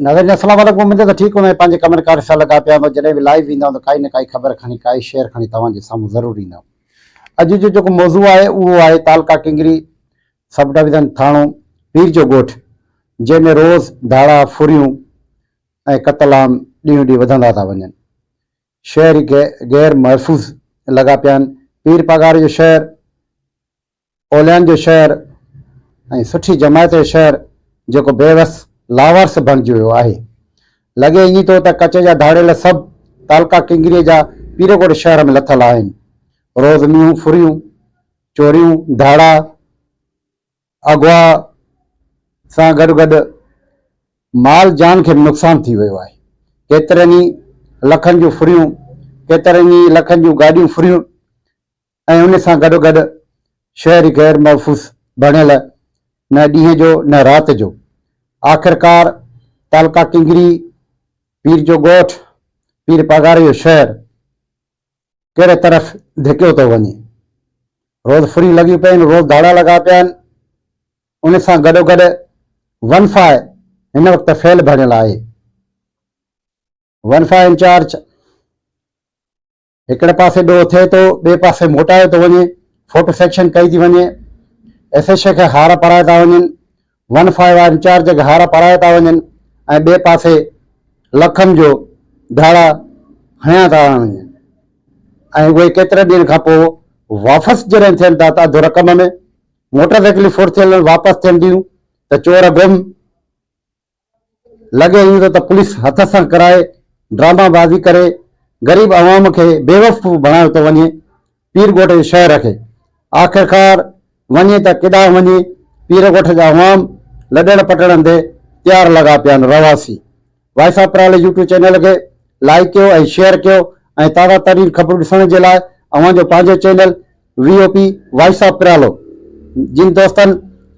ناظرين السلام عليڪم اميد ته ٺيڪ هوندو ۽ پنهنجي ڪمن ڪارين سان لڳا پيا هوندو جڏهن به لائيو ويندا ته ڪائي نه ڪائي خبر کڻي ڪائي شيئر کڻي توهان جي سامهون ضرور ايندا اڄ جو جيڪو موضوع آهي اهو آهي تعلقه ڪنگري سب ڊويزن ٿاڻو پير جو ڳوٺ جنهن ۾ روز ڌاڙا ڦريون ۽ قتل عام ڏينهون ڏينهن وڌندا ٿا وڃن شهر غير محفوظ لڳا پيا آهن پير پاڳاري جو شهر اوليائن جو شهر ۽ سٺي جماعت جو شهر جيڪو بيوس لاوارث بڻجي ويو آهي. لڳي ائين ٿو ته ڪچي جا ڌاڙيل سڀ تعلقا ڪنگريء جا پيرڪوٽ شهر ۾ لٿل آهن. روز مينهون ڦريون، چوريون، ڌاڙا، اغوا سان گڏ گڏ مال جان کي به نقصان ٿي ويو آهي. ڪيترن ئي لکن جون ڦريون، ڪيترن ئي لکن جون گاڏيون ڦريون ۽ ان سان گڏوگڏ شهر غير محفوظ بڻيل نه ڏينهن جو نه رات جو. آخرڪار تعلقه ڪينگري، پير جو ڳوٺ، پير پاڳاري جو شهر ڪهڙي طرف ڌڪيو ٿو وڃي. روز ڦريون لڳيون پيون، روز ڌاڙا لڳا پيا آهن. ان سان گڏوگڏ ون فاء هن وقت فيل بڻيل آهي. One five incharge. هڪڙي پاسي ڏوهه ٿئي ٿو، ٻئي پاسي موٽايو ٿو وڃي، فوٽو سيڪشن ڪئي ٿي وڃي، ايس ايڇ کي هار پارايا ٿا وڃن، ون فائيو آر انچارج کي هار پارايا ٿا وڃن ۽ ٻئي پاسي لکن جو ڌاڙا هنيا ٿا وڃن ۽ اهي ڪيترن ڏينهن کان پوء واپس جڏهن ٿين ٿا ته اڌ رقم ۾ موٽر سائيڪلون ڦرٿيل واپس ٿين ٿيون ته چور گم، لڳي اهو ته پوليس هٿ سان ڪرائي ڊراما بازي ڪري غريب عوام کي بيوفقو بڻايو ٿو وڃي پير ڳوٺ جي شهر کي آخرڪار وڃي ته ڪيڏانهن وڃي پير ڳوٺ جا عوام لڏڻ پٽڻ تي تيار لڳا پيا آهن رهواسي وائسا پرالي يوٽيوب چينل کي لائيڪ ڪيو ۽ شيئر ڪيو ۽ تازا ترين خبرون ڏسڻ جي لاء اوهان جو پنهنجو channel V O P voice of پريالو جن دوستن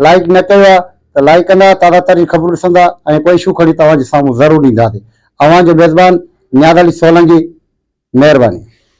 لائيڪ نه ڪيو آ ته لائيڪ ڪندا تازا ترين خبرون ڏسندا ۽ ڪو اشو کڻي توهان جي سامهون ضرور اينداسي اوهان جو ميزبان نياز علي سولنگي مهرباني.